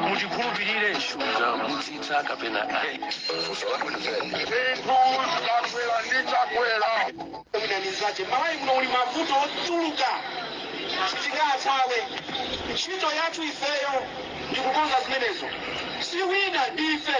muchikhulupirire shuga mudzitha kapena ayi ndinanizache malawi muno muli mavuto ochuluka sitingathawe ntchito yathu ifeyo ndikukonza zimenezo si wina ndife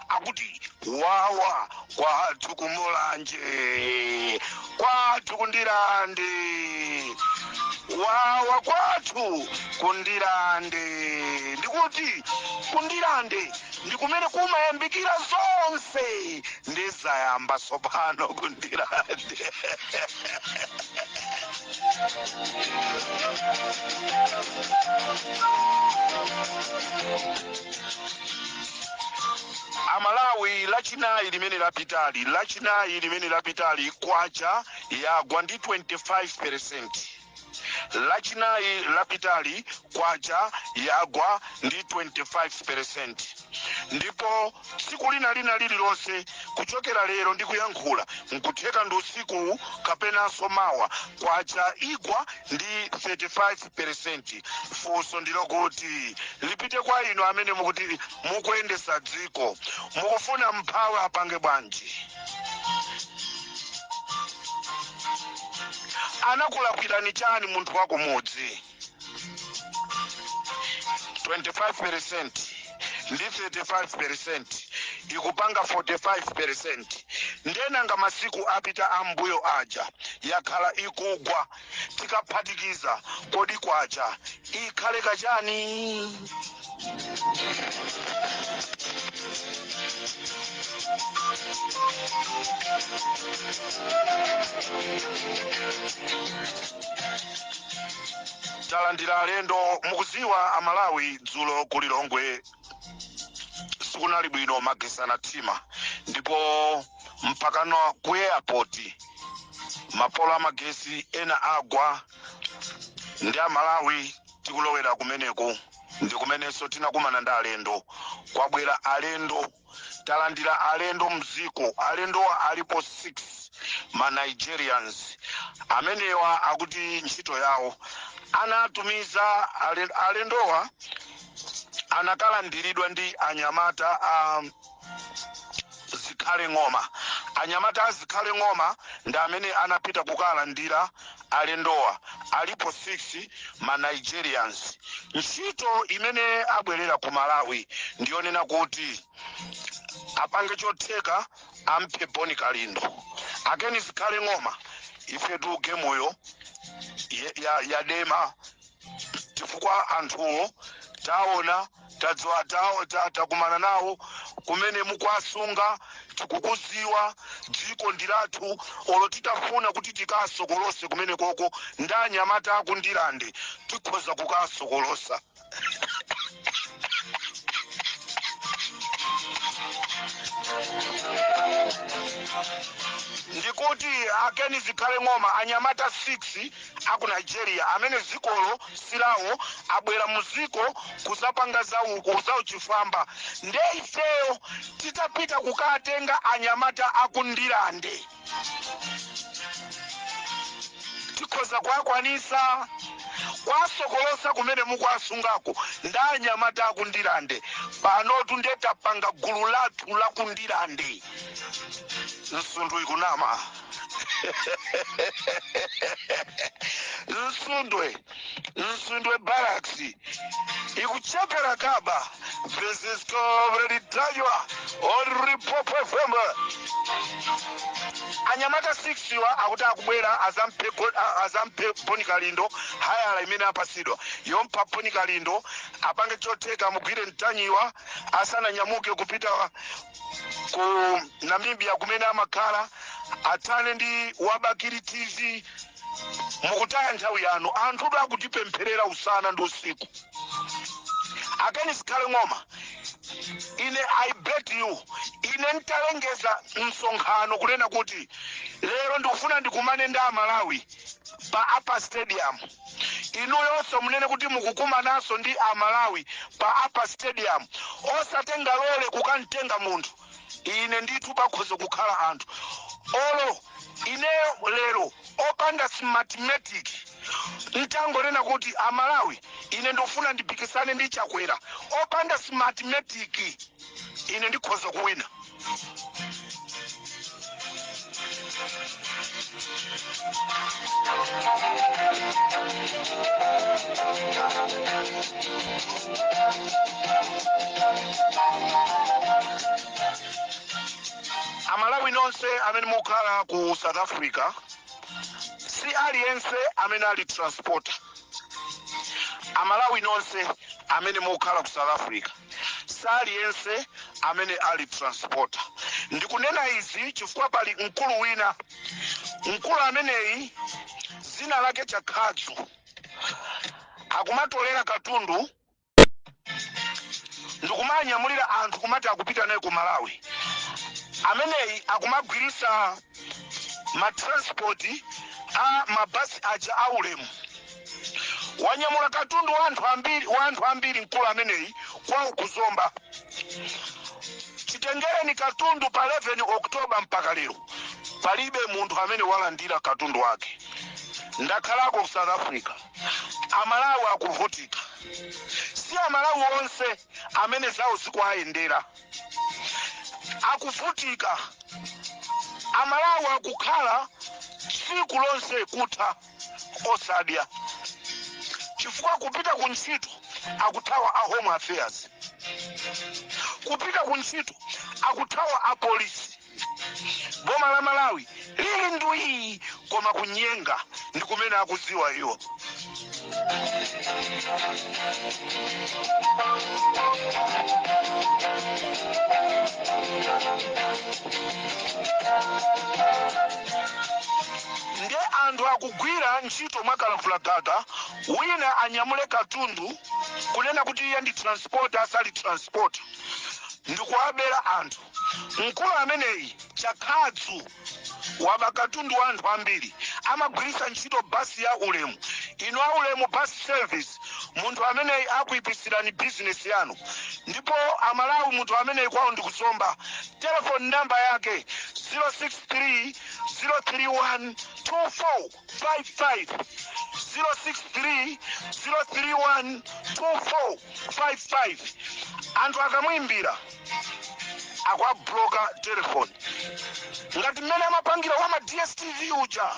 akuti wawa kwathu kumulanje kwathu kundirande wawa kwathu kundirande ndikuti kundirande ndi kumene kumayambikira zonse ndizayamba tsopano kundirande amalawi lachinayi limene lapitali lachinayi limene lapitali kwacha yagwa ndi 25 percent lachinayi lapitali kwacha yagwa ndi 25 percent ndipo tsiku lina lina lililonse kuchokera lero ndi kuyankhula nkutheka ndi usiku kapenanso mawa kwacha igwa ndi 35 peresenti funso ndilo kuti lipite kwa inu amene mukuti mukuyendesa dziko mukufuna mmphawi apange bwanji anakulakwirani chani munthu wakumudzi 25 percent ndi 35 percent ikupanga 45 percent nde nanga masiku apita ambuyomo aja yakhala ikugwa tikaphatikiza kodi kwacha ikhale kachani talandira alendo mukuziwa amalawi dzulo ku lilongwe sikunali bwino magesi anathima ndipo mpakano ku airport mapolo amagesi ena agwa nde amalawi tikulowera kumeneku ndi kumenenso tinakumana ndi alendo kwabwera alendo talandira alendo mziko alendowa alipo 6 ma nigerians amenewa akuti ntchito yawo anatumiza alendowa anakalandiridwa ndi anyamata a zikhale ng'oma anyamata a zikhale ng'oma ndi amene anapita kukalandira alendowa alipo 6 ma nigerians ntchito imene abwerera ku malawi ndiyonena kuti apange chotheka amphe bon kalindo a ken zikhale ng'oma ifetu gemuyo ye- ya- yadema chifukwa anthuwo taona tadziwa takumana nawo kumene mukwasunga tikukuziwa dziko ndi lathu olo titafuna kuti tikasokolose kumene koko ndi anyamata aku Ndirande tikhoza kukasokolosa ndikuti akeni zikhale ng'oma anyamata 6 aku nigeria amene zikolo silawo abwera muziko kuzapanga zauku zauchifwamba nde ifeyo titapita kukatenga anyamata aku ndilande tikhoza kuwakwanisa kwasokolosa kumene mukwasungako nda anyamata aku ndilande panotu nde tapanga gulu lathu laku ndilande msundu ikunama Msundwe Msundwe barracks ikuchepera kaba Comrade Ntanyiwa on Limpopo fm anyamata 6 wa akuti akubwera adzamphe boni kalindo ndi hayala imene apasidwa yompha boni kalindo apange chotheka mugwire mtanyiwa asananyamuke kupita ku namibia kumene amakhala athane ndi wa Bakili tv mukutaya nthawi yanu anthu oti akutipempherera usana ndi usiku akeni zikhale ng'oma ine i bet you ine ntalengeza msonkhano kunena kuti lero ndikufuna ndikumane ndi amalawi pa Upper Stadium Inuyonso munene kuti mukukumananso ndi a Malawi pa Upper Stadium osatenga lole kukamtenga munthu. Ine ndithu pakhoza kukhala anthu olo ineyo lero opanda smartmatic ntangonena kuti a Malawi ine ndikufuna ndipikisane ndi Chakwera opanda smartmatic. ine ndikhoza kuwina amalawi nonse amene mukukhala ku south africa si aliyense amene ali transporter amalawi nonse amene mukukhala ku south africa si aliyense amene ali transporter ndikunena izi chifukwa pali mkulu wina mkulu ameneyi dzina lake chakhadzu akumatolera katundu ndikumanyamulira anthu kumati akupita naye ku malawi ameneyi akumagwiritsa ma transport a mabasi aja a ulemu wanyamula katundu wa anthu ambiri mkulu ameneyi kwawo ku Zomba chitengereni katundu pa 11 oktoba mpaka lero palibe munthu amene walandira katundu wake ndakhalako ku south africa amalawi akuvutika si amalawi onse amene zawo zikuwayendera akuvutika Amalawi akukhala tsiku lonse kutha osadya chifukwa kupita ku ntchito akuthawa a home affairs kupita ku ntchito akuthawa a polisi boma la malawi lili ndwii koma kunyenga ndi kumene akudziwa iwo nde anthu akugwira ntchito mwakalavula gaga wina anyamule katundu kunena kuti iye ndi transporter asali transporter ndikuwabera anthu Mkulu ameneyi, Chakhadzu, waba katundu wa anthu ambiri. Amagwiritsa ntchito bus ya Ulemu. Inu a Ulemu Bus Service, munthu ameneyi akuipitsirani business yanu. Ndipo a Malawi munthu ameneyi kwawo ndi ku Zomba. Telephone number yake 063 031 2455 063 031 24. 55 anthu akamwimbira akuwabloka telefoni ngati mmene amapangira wa ma dstv uja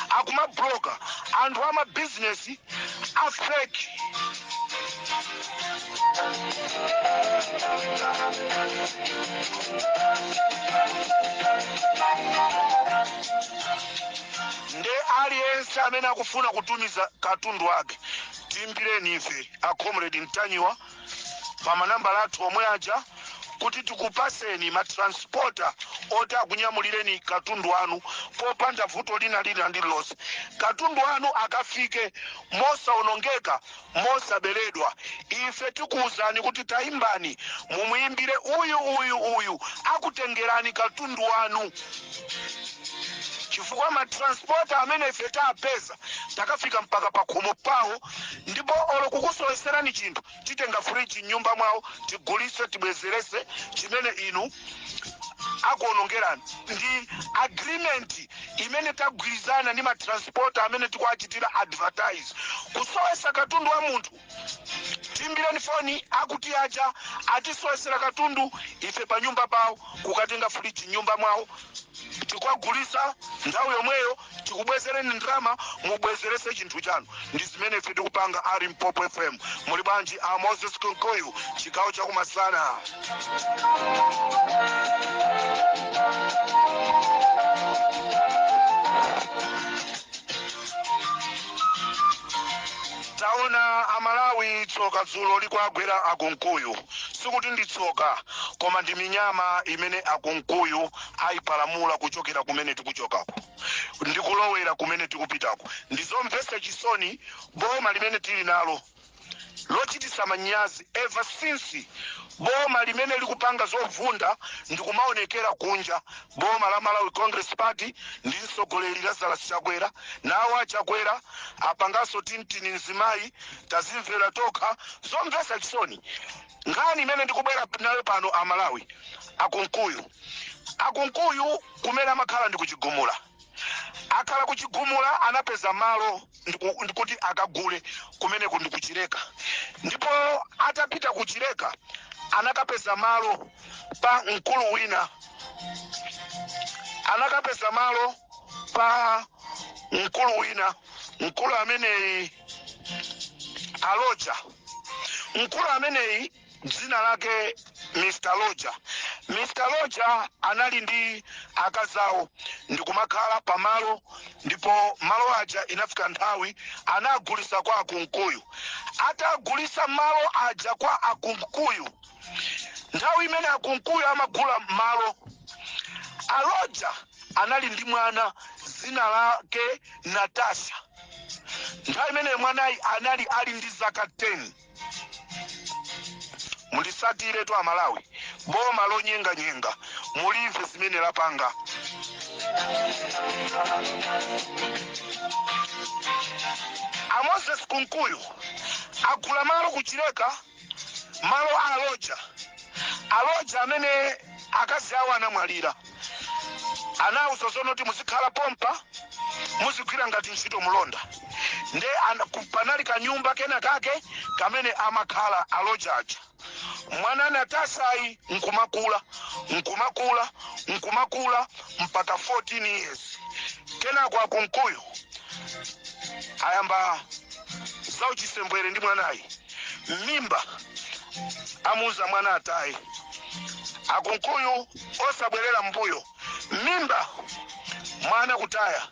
akumabloka anthu a mabizinesi a fake. nde aliyense amene akufuna kutumiza katundu wake timbireni ife a comrade mtanyiwa pa manambala athu omwe aja kuti tikupaseni matransporta oti akunyamulireni katundu wanu popanda vuto lina lina lililonse katundu wanu akafike mosaonongeka mosaberedwa ife tikuwuzani kuti tayimbani mumuyimbire uyu uyu uyu akutengerani katundu wanu chifukwa matransporta amene ife tapeza takafika mpaka pakhomo pawo ndipo olo kukusoweserani chinthu titenga fridge m'nyumba mwawo tigulise tibwezerese chimene inu akuonongerani ndi agreement imene tagwirizana ndi matransporta amene tikuwachitira advertise kusowesa katundu wa munthu timbireni foni akuti aja atisowesera katundu ife pa nyumba pawo kukatenga fridge m'nyumba mwawo tikagulisa nthawi yomweyo tikubwezereni ndrama mubwezerese chinthu chanu ndi zimene ife tikupanga ali mpopo fm muli bwanji a moses kunkuyu chigawo chakumasana taona amalawi tsoka dzulo likwagwera akunkuyu sikuti ndi tsoka koma ndi minyama imene akunkuyu aipalamula kuchokera kumene tikuchokako ndi kulowera kumene tikupitako ndi zomvetsa chisoni boma limene tili nalo lochititsa manyazi ever since boma limene likupanga zovunda ndikumaonekera kunja boma la malawi congress party ndi mtsogoleri lazarus chakwera nawo achakwera apanganso tintini mzimayi tazimvera tokha zomvetsa chisoni Nkhani imene ndikubwera nayo pano a Malawi, a Kunkuyu. A Kunkuyu kumene amakhala ndi ku Chigumula. Akhala ku Chigumula anapeza malo ndiku- ndikuti akagule kumeneko ndi ku Chileka. Ndipo atapita ku Chileka anakapeza malo pa mkulu wina anakapeza malo pa mkulu wina mkulu ameneyi a Loja mkulu ameneyi dzina lake mr loja mr loja anali ndi akazi awo ndikumakhala pamalo ndipo malo aja inafika nthawi anagulisa kwa akunkuyu atagulisa malo aja kwa akunkuyu nthawi imene akunkuyu amagula malo a loja anali ndi mwana dzina lake natasha nthawi imene mwanayi anali ali ndi zaka 10 mulisatiretu amalawi boma lonyenganyenga mulimve zimene lapanga amoses kunkuyu agula malo kuchileka malo a loja a loja amene akazi awo anamwalira anawauza zonena kuti muzikhala pompa muzigwira ngati ntchito mulonda nde ana- ku- panali kanyumba kena kake kamene amakhala a loja aja mwana natashayi nkumakula nkumakula nkumakula mpaka 14 years kenako akunkuyu ayamba zauchisembwere ndi mwanayi mimba amuuza mwana ataye akunkuyu osabwerera mbuyo mimba mwana kutaya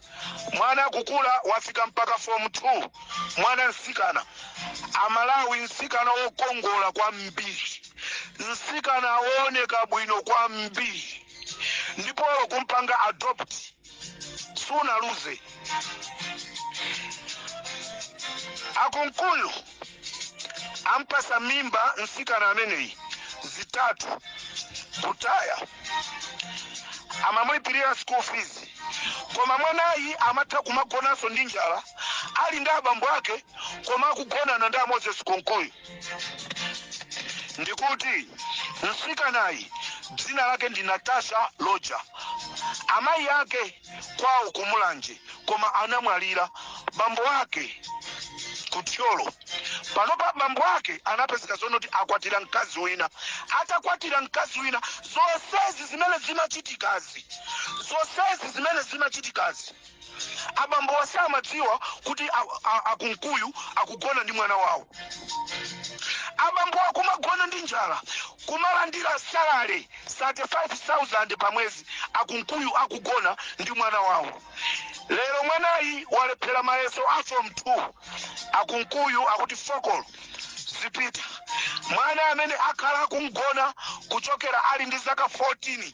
mwana akukula wafika mpaka form 2 mwana msikana amalawi msikana wokongola kwambiri msikana wooneka bwino kwambiri ndipo kumpanga adopt sunaluze a kunkuyu ampasa mimba msikana ameneyi zitatu kutaya amamulipirira school fees koma mwanayi amatha kumagonanso ndi njala ali ndi abambo ake koma akugonana ndi amoses kunkuyu ndikuti mtsikanayi dzina lake ndi natasha loja amayi ake kwawo kumulanje koma anamwalira bambo ake ku thyolo panopa bambo ake anapezeka zonena kuti akwatira mkazi wina atakwatira mkazi wina zonsezi zimene zimachitikazi Abambowa samadziwa kuti a Kunkuyu akugona ndi mwana wawo. Abambowa kumagona ndi njala, kumalandira salary 35,000 pa mwezi. A Kunkuyu akugona ndi mwana wawo. Lero mwanayi walephera mayeso a form 2. A Kunkuyu akuti fokolo zipita. Mwana amene akhala akumugona kuchokera ali ndi zaka 14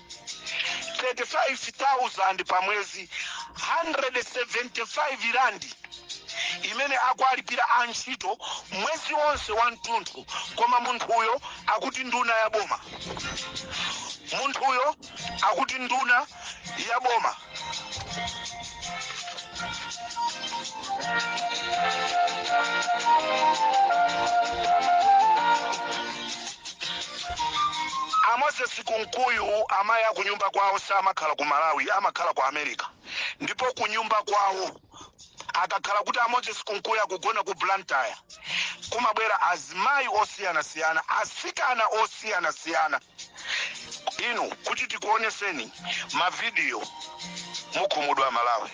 35,000 pa mwezi 175 randi imene akuwalipira antchito mwezi wonse wathunthu koma munthuyo akuti nduna ya boma munthuyo akuti nduna ya boma amoses kunkuyu amayi akunyumba kwawo samakhala ku malawi amakhala ku america ndipo kunyumba kwawo akakhala kuti amoses kunkuyu akugona ku blantyre kumabwera azimayi osiyanasiyana asikana osiyanasiyana inu kuti tikuoneseni mavidiyo mukhumudwa malawi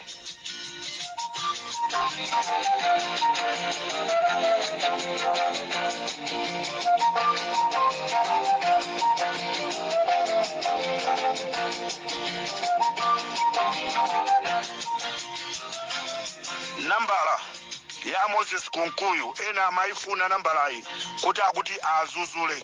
nambala ya moses kunkuyu ena amayifuna nambalayi kuti akuti azuzule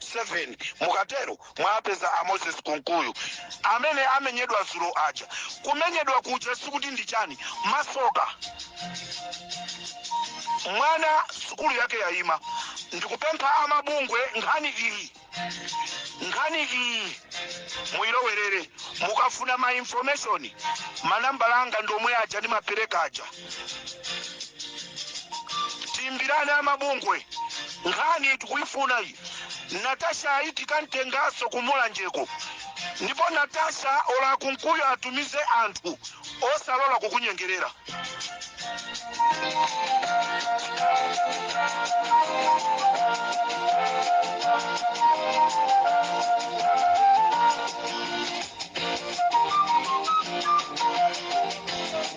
7 mukatero mwapeza a moses kunkuyu amene amenyedwa zulo aja kumenyedwa kuja sikuti ndi chani masoka mwana sukulu yake yayima ndikupempha amabungwe nkhani iyi nkhani iyi muyilowerere mukafuna ma information manambala anga ndi omwe aja ndimapereka aja timbirani amabungwe nkhani tikuyifuna iyi natasha ayi tikamtenganso kumulanjeko ndipo natasha olo akunkuyu atumize anthu osalola kukunyengerera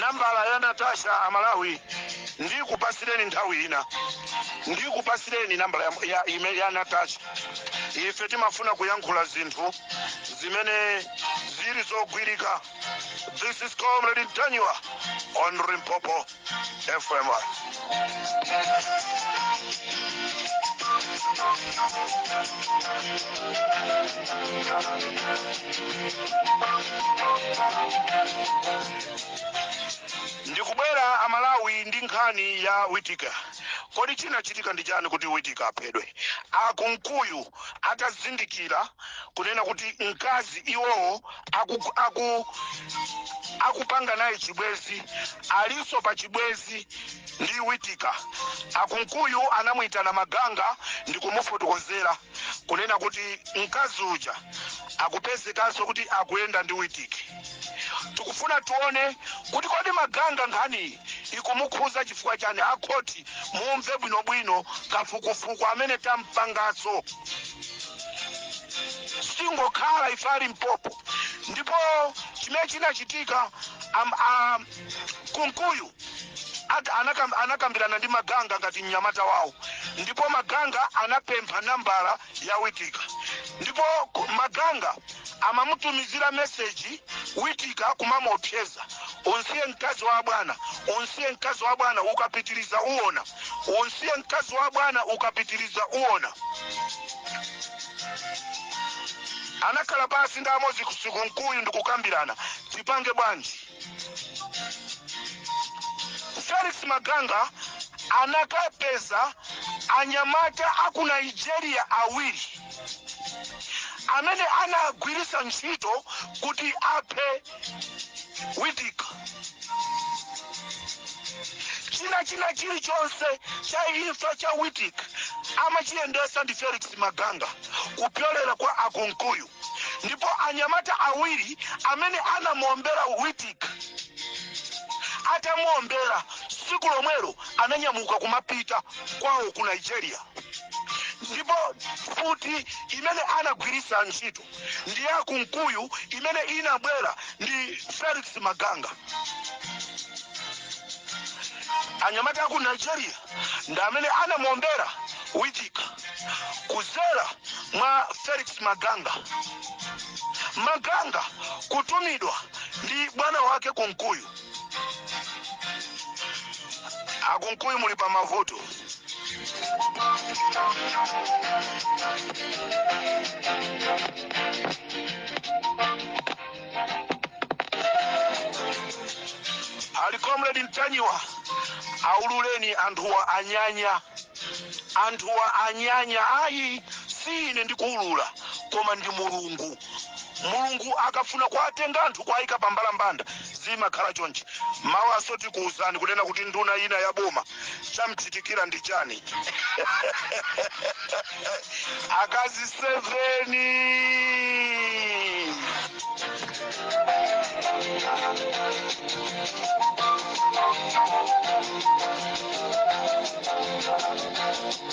nambala ya natasha amalawi ndikupasireni nthawi ina ndikupasireni nambala ya, ya, ime- ya natasha ife timafuna kuyankhula zinthu zimene zili zogwirika this is comrade ntanywa on Limpopo FM. ndikubwera amalawi ndi nkhani ya witika kodi chinachitika ndi chani kuti witika aphedwe akunkuyu atazindikira kunena kuti mkazi iwowo aku, aku, akupanga naye chibwezi alinso pa chibwezi ndi witika akunkuyu anamuyitana maganga ndi kumufotokozera kunena kuti mkazi uja akupezekanso kuti akuyenda ndi witika tikufuna tione kuti kodi maganga nkhaniyi ikumukhuza chifukwa chani akhoti mumve bwinobwino kafukufuku amene tampangaso sitingokhala ife a limpopo ndipo chimene chinachitika am- a- kunkuyu at- anakam- anakambirana ndi maganga ngati mnyamata wawo ndipo maganga anapempha nambala ya witika ndipo ku- maganga amamutumizira meseji witika kumamuopseza Umsiye mkazi wa bwana, umsiye mkazi wa bwana, ukapitiliza uona. Umsiye mkazi wa bwana, ukapitiliza uona. anakhala pasi ndi a mozesi kunkuyu ndikukambirana tipange bwanji felix maganga anakapeza anyamata aku nigeria awiri amene anagwiritsa ntchito kuti aphe witika china chilichonse cha imfa cha witik amachiyendesa ndi felix maganga kupyolera kwa akunkuyu ndipo anyamata awiri amene anamuombera witik atamuombera tsiku lomwelo ananyamuka kumapita kwawo ku nigeria ndipo futi imene anagwiritsa ntchito ndi ya kunkuyu imene inabwera ndi felix maganga anyamata aku nigeria ndi amene anamuombera witika kuzera mwa felix maganga maganga kutumidwa ndi bwana wake kunkuyu akunkuyu muli pa mavuto ali comrade mtanyiwa aululeni anthuwa anyanya anthuwa anyanya ayi si ine ndikuulula koma ndi mulungu mulungu akafuna kuwatenga anthu kuwayika pa mbalambanda zimakhala chonchi mawaso tikuwuzani kunena kuti nduna ina ya boma chamchitikira ndi chani akazi 7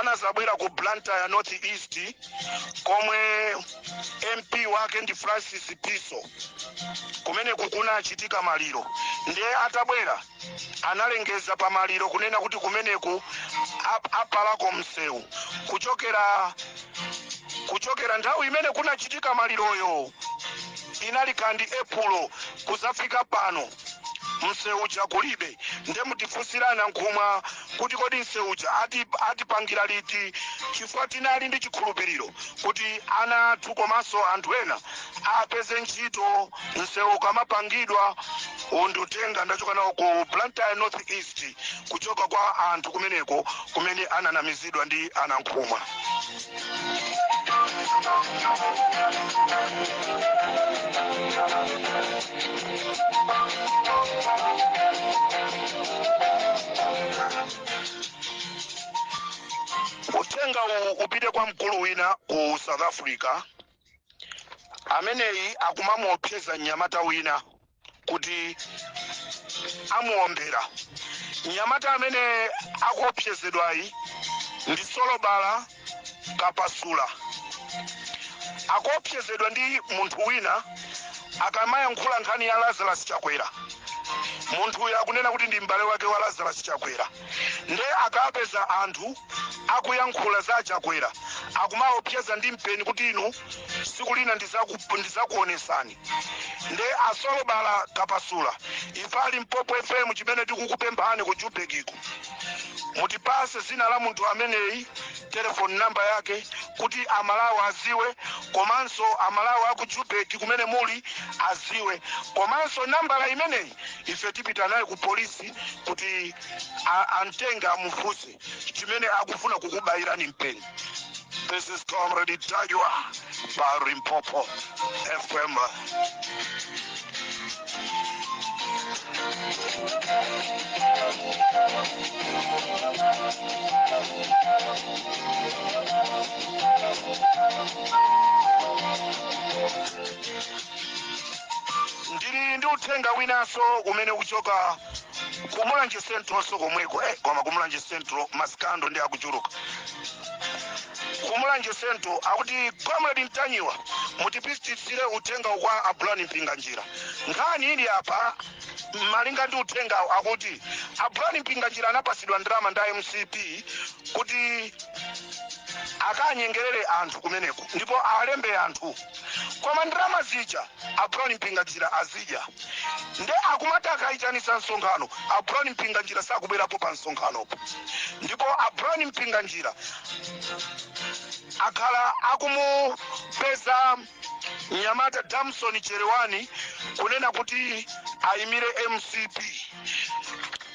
anazabwera ku blantyre north east komwe mp wake ndi francis piso kumene kukunachitika maliro ndiye atabwera analengeza pa maliro kunena kuti kumeneku apalako msewu kuchokera nthawi imene kunachitika maliroyo inali 31 epulo kuzafika pano msewu uja kulibe nde mutifunsire a nankhumwa kuti kodi msewu uja atipangira liti chifukwa tinali ndi chikhulupiriro kuti ana athu komanso anthu ena apeze ntchito msewu ukamapangidwa uwu ndi uthenga ndachoka nawo ku blantyre north east kuchoka kwa anthu kumeneko kumene ananamizidwa ndi a nankhumwa uthenga uwu upite kwa mkulu wina ku south africa ameneyi akumamuopseza mnyamata wina kuti amuombera mnyamata amene akuopsezedwayi ndi solobala kapasula akuopsezedwa ndi munthu wina akamayankhula nkhani ya lazarus chakwera munthuyo akunena kuti ndi m'bale wake wa lazarus chakwera nde akapeza anthu akuyankhula za chakwera akumaopseza ndi mpeni kuti inu siku lina ndizakuonesani ndi asolobala kapasula ife a Limpopo fm chimene tikukupemphani ku jubekiku mutipase zina la munthu ameneyi telefoni namba yake kuti amalawi aziwe komanso amalawi aku jubeki kumene muli aziwe komanso nambala imeneyi ife tipita naye ku polisi kuti a- amtenga amufunse chimene akufuna kukubayirani mpeni this is comrade Ntanyiwa pa Limpopo fm ndili ndi uthenga winanso umene ukuchoka kumulanje centralnso komweko eh, koma kumulanje central masikando ndi akuchuluka kumulanje central akuti comrade Ntanyiwa mutipititsire uthengawu kwa a Brown Mpinganjira nkhani ili apa malinga ndi uthengawo akuti a Brown Mpinganjira anapasidwa ndalama ndi a mcp kuti akanyengerere anthu kumeneko ndipo awalembe anthu koma ndalama zija a brown mpinganjira azidya nde akumati akayitanisa msonkhano a brown mpinganjira sakubwerapo pa msonkhanopo ndipo a brown mpinganjira akhala akumupeza mnyamata damson Chelewani kunena kuti ayimire mcp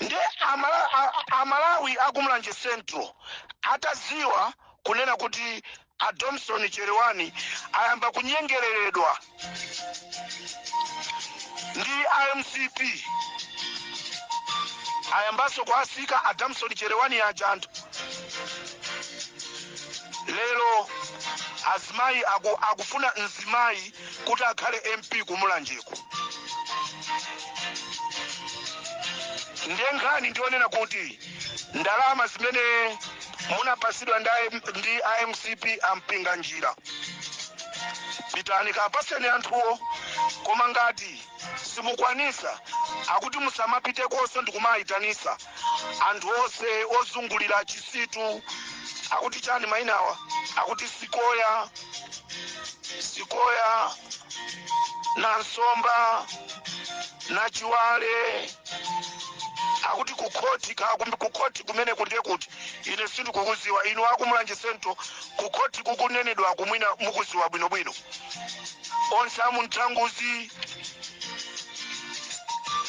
nde amala, a, amalawi akumulanje central ataziwa kunena kuti A Damson Chelewani ayamba kunyengeleledwa ndi a mcp ayambanso kuwasiya a Damson Chelewani aja anthu lero azimayi aku, akufuna mzimayi kuti akhale mp kumulanjeko ndiye nkhani ndi yonena kuti ndalama zimene munapasidwa ndi AM ndi a mcp a Mpinganjira pitani kapaseni anthuwo koma ngati simukwanisa akuti musamapitekonso ndikumayitanisa anthu onse ozungulira chisitu akuti chani mayinawa akuti sikoya sikoya nansomba nachiwale akuti kukhoti ka- kum- kukhoti kumeneku ndiye kuti ine sindikukuziwa inu akumulanje central kukhoti kukunenedwaku mwina mukuziwa bwinobwino onse amunthanguzi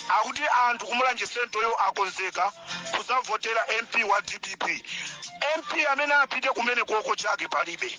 akuti anthu kumulanje centralyo akonzeka kuzavotera mp wa dpp mp amene apite kumeneko koma chake palibe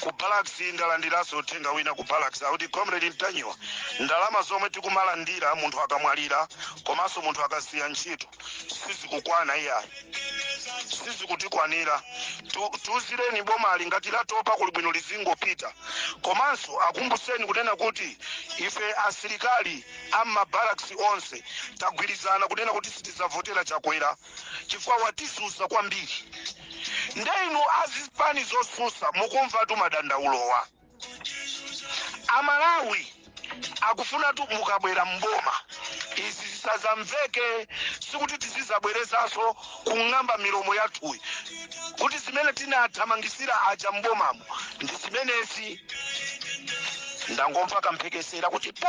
ku barracks ndalandiranso uthenga wina ku barracks akuti comrade mtanyiwa ndalama zomwe tikumalandira munthu akamwalira komanso munthu akasiya ntchito sizikukwana iyayi sizikutikwanira tiuzireni bomali ngati latopa kuli bwino lizingopita komanso akumbuseni kunena kuti ife asilikali ammabaraks onse tagwirizana kunena kuti sitidzavotera chakwera chifukwa watisusa kwambiri nde inu azipani zosusa mukumvatu madandaulowa amalawi akufuna kuti mukabwera mboma izi zisazamveke sikuti tizizabwerezaso kung'amba milomo yathuyi kuti zimene tinathamangisira aja mbomamo ndi zimenezi ndangomva kamphekesera kuti po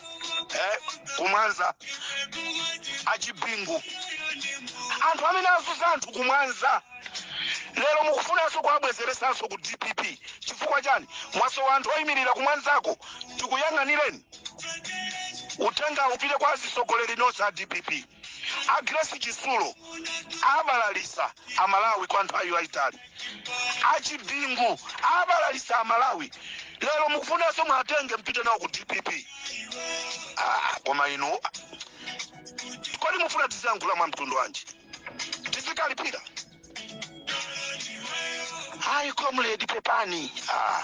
eh, kumwanza achibingu anthu amene azunza anthu kumwanza lero mukufunanso kuwabwezeresanso ku dpp chifukwa chani mwasowa anthu oyimirira kumwanzako tikuyang'anireni uthenga upite kwa azitsogoleri onse a dpp a grace chisulo abalalisa amalawi kwa nthawi yayitali achibingu abalalisa amalawi lero mukufunanso muwatenge mpite nawo ku dpp ah, koma inu kodi mufuna tiziyankhula mwa mtundu wanji tizikalipira hayi comrade pepani ah.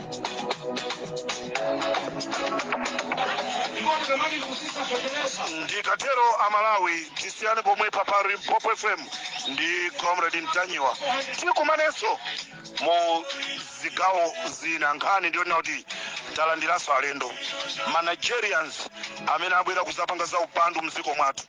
ndikatero amalawi tisiyane pomwepa pari popo fm ndi comrade mtanyiwa tikumanenso mu zigawo zina nkhani ndiyonena kuti talandiranso alendo manigerians amene abwera kuzapanga za upandu mdziko mwathu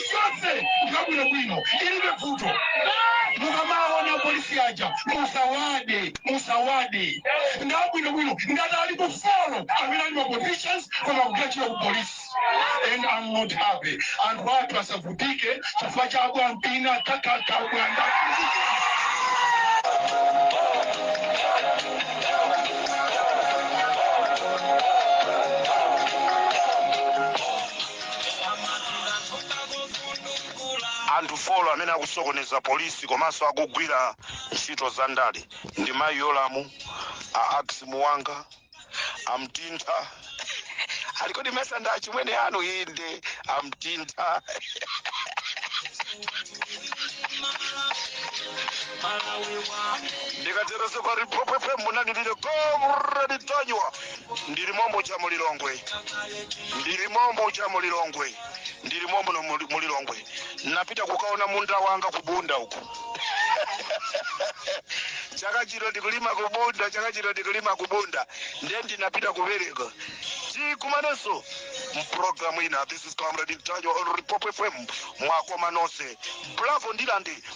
onse nga bwinobwino ilibe vuto mukamaona apolisi aja musawade musawade nga bwinobwino ngati alipo folo amene ali ma positions koma kugachira ku polisi and I'm not happy anthu athu asavutike chifukwa cha abwampina kakaka bwanda Anthu folo amene akusokoneza polisi komanso akugwira ntchito za ndale ndi mayi Yolamu, a Ax Muwanga, a Mtintha alikodi mesa ndi achimwene anu inde a Mtintha ndikatereso pari popo fm munali ndi ine komredi mtanyiwa ndili mombo cha mulilongwe ndili mombo cha mulilongwe ndili mombo no muli- mulilongwe napita kukaona munda wanga kubunda uku chaka chino ndikulima kubunda chaka chino ndikulima kubunda ndiye ndinapita kubereka tikumanenso mpulogalamu ina this is comrade Ntanyiwa on repop fm mwakoma nonse bravo ndilande